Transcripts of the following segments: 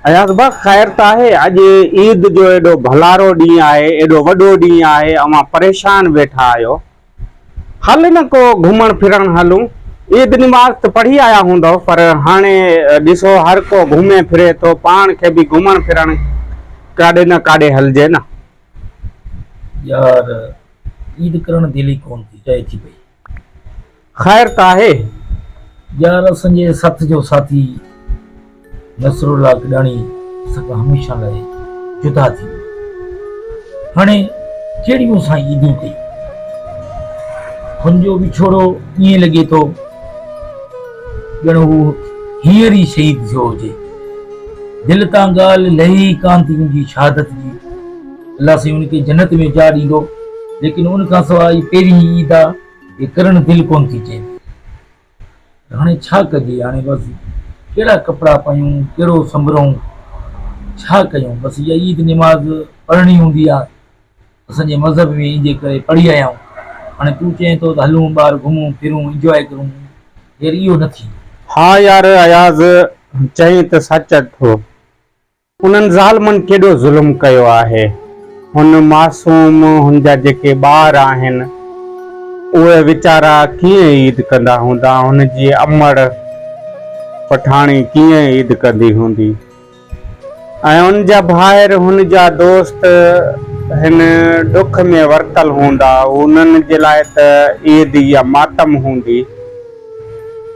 اياز بخش خير ته آهي اڄ عيد جو ايڏو ڀلارو ڏينهن آهي ايڏو وڏو ڏينهن آهي اوهان پريشان ويٺا آهيو هل نه ڪو گهمڻ ڦرڻ هلون. عيد نماز ته پڙهي آيا هوندؤ پر هاڻي ڏسو هر ڪو گهمي ڦري ٿو پاڻ کي به گهمڻ ڦرڻ ڪاڏي نه ڪاڏي هلجي نه. يار عيد ڪرڻ دل ئي ڪون ٿي چاهي ٿي پئي. خير ته آهي. يار اسنجي سٿ جو ساٿي. نصرالله ڪڏاڻي سان هميشه لاء جدا ٿي ويو. هاڻي ڪهڙي مون سان عيدون ڪئي؟ هن جو وڇوڙو ائين لڳي ٿو ڄڻ هو هينئر ئي شهيد ٿيو هجي. دل تان ڳالهه لهي ئي ڪانه ٿي ان جي شهادت جي. الله سائين ان کي جنت ۾ جاء ڏيندو، ليڪن ان کان سواء هي پهرين ئي عيد آ، هي ڪرڻ دل ڪونه ٿي چئي. ته هاڻي ڇا ڪجي؟ هاڻي بس ڪهڙا ڪپڙا پايون، ڪهڙو سنڀرون، ڇا ڪيون؟ بس اها عيد نماز پڙهڻي هوندي آ، اسان جي مذهب ۾ ايندي ڪري پڙهي آيا آهيون، هاڻي تون چئين ٿو ته هلون ٻاهر گهمون ڦرون انجواء ڪرون، يار اهو نه ٿيندو. ها يار اياز چئين ته سچ ٿو، انهن ظالمن ڪيڏو ظلم ڪيو آهي. هن معصوم، هن جا جيڪي ٻار آهن، اهي ويچارا ڪيئن عيد ڪندا هوندا، هن جي امڙ پٺاڻي ڪيئن عيد ڪندي هوندي ۽ هن جا ڀائر، هن جا دوست هن ڏک ۾ ورتل هوندا، انهن جي لاء ته عيد ئي ماتم هوندي.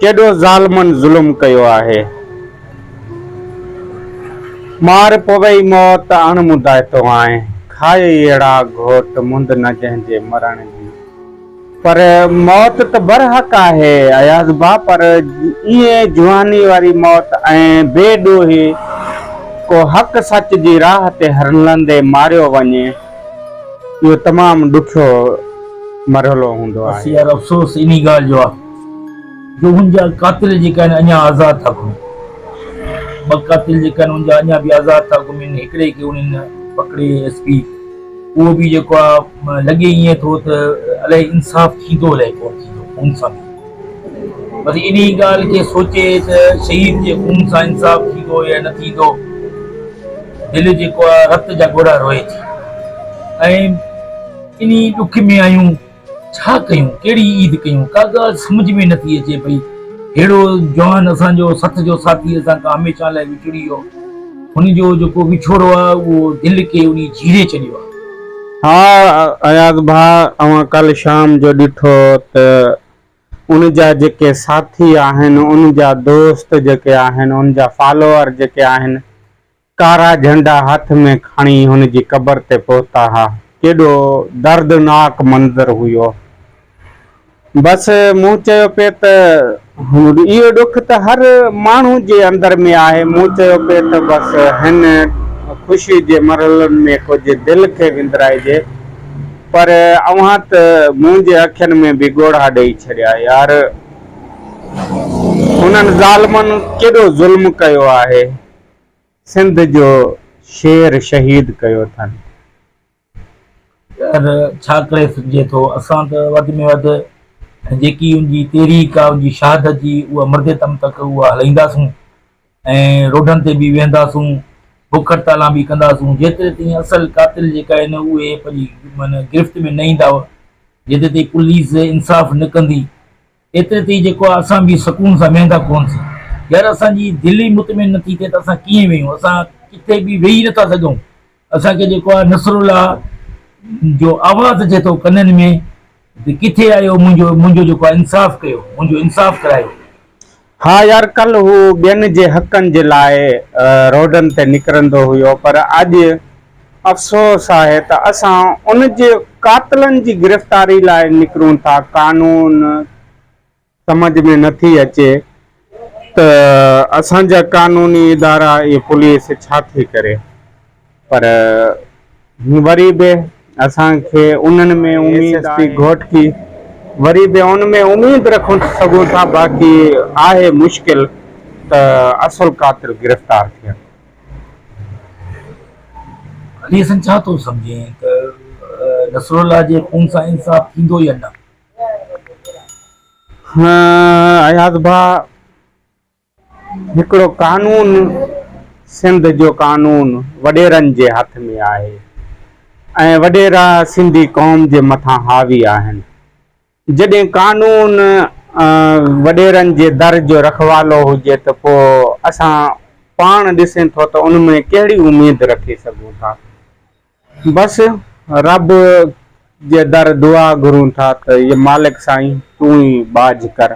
ڪيڏو ظالمن ظلم ڪيو آهي. مار پوئي موت اڻ مدائتو آنء کائي اهڙا گهوٽ مند نه جنهن جي مرڻ جي پر موت ته برحق آهي اياز ڀاء پر ائين جواني واري موت ۽ بي ڏوهي ڪو حق سچ جي راهه تي هرلندي ماريو وڃي اهو تمام ڏکيو مرحلو هوندو آهي. بس يار افسوس انهي ڳالهه جو آ. جو هن جا قاتل جيڪا آهن اڃا آزاد ٿا گهمين. ٻه قاتل جيڪا آهن ان جا اڃا به آزاد ٿا گهمين. هڪڙي کي انهن پڪڙي ايس پي اهو به جيڪو آ لڳي ائين ٿو ته الائي انصاف ٿيندو الائي ڪونه ٿيندو خون سان به بس انهي ڳالهه کي سوچي ته شهيد جي خون سان انصاف ٿيندو يا نه ٿيندو دل جيڪو آ رت جا ڳوڙها روئي ٿي ۽ انهي ڏک ۾ آهيون. ڇا ڪيون، ڪهڙي عيد ڪيون، ڪا ڳالهه سمجهه ۾ نٿي اچي پئي. ههڙو جوان اسان جو سٿ جو ساٿي اسان کان هميشه لاء وڇڙي ويو. هن جو جيڪو وڇوڙو آهي اهو دل کي اڏي جهيڙي ڇڏيو آهي. ها اياز ڀاء اوهان ڪالهه شام جو ڏٺو ته ان جا جيڪي ساٿي آهن، ان جا دوست جيڪي آهن، ان جا فالوئر جيڪي آهن ڪارا جهنڊا هٿ ۾ کڻي هن جي قبر تي پهتا ها. ڪيڏو دردناڪ منظر هيو. بس مون چيو پي ته اهو ڏک ته هر ماڻهو جي اندر ۾ آهي. مون چيو پي ته بس هن خوشي جي مرحلن ۾ ڪجهه دل کي وندرائجي پر اوهان ته منهنجي اکين ۾ به ڳوڙها ڏئي ڇڏيا يار. هنن ظالمن ڪيڏو ظلم ڪيو آهي. سنڌ جو شير شهيد ڪيو اٿن. پر ڇا ڪري سگهجي ٿو. اسان ته وڌ ۾ وڌ جيڪي ان جي تحريڪ آ، ان جي شهادت جي اها مردي دم تڪ اها هلائينداسون ۽ روڊن تي به ويهنداسون، بک هڙتالان به ڪنداسون جيتري تائين اصل قاتل جيڪا آهن اهي پنهنجي گرفت ۾ نه ايندا جيتري تائين پوليس انصاف نه ڪندي ايتري تي جيڪو آهي اسان به سڪون سان ويهندا ڪونه سان يار اسان جي دل ئي مطمئن نه ٿي ٿئي ته اسان ڪيئن ويهون اسان ڪٿي به ويهي نه ٿا سگهون اسان کي جيڪو آهي نصر الله جو آواز اچي ٿو ڪنن ۾ ته ڪٿي آهيو منهنجو منهنجو جيڪو آهي انصاف ڪيو منهنجو انصاف ڪرايو. ها يار ڪلهه هو ٻين جي حقن جي لاء روڊن تي نڪرندو هيو پر اڄ. افسوس آهي ته اسان ان جي قاتلن جي گرفتاري لاء نڪرون ٿا قانون سمجهه ۾ نه ٿي اچي ته اسان جا قانوني ادارا ۽ پوليس ڇا ٿي ڪري پر وري به اسان کي انهن ۾ اميد آهي. ايس ايس پي گهوٽڪي وري به ان ۾ اميد رکون سگهون ٿا باقي آهي مشڪل ته اصل قاتل گرفتار ٿين. علي حسن ڇا ٿو سمجهين ته نصر الله جي خون سان انصاف ٿيندو يا نه؟ اياز ڀاء هڪڙو قانون سنڌ جو قانون وڏيرن جي هٿ ۾ آهي ۽ وڏيرا سنڌي قوم جي مٿان حاوي آهن جڏهن قانون وڏيرن جي در جو رکوالو هجي ته پوء اسان پاڻ ڏسين ٿو ته ان ۾ ڪهڙي اميد رکي سگهون ٿا. بس رب جي در دعا گهرون ٿا ته مالڪ سائين تون ئي ٻاجهه ڪر.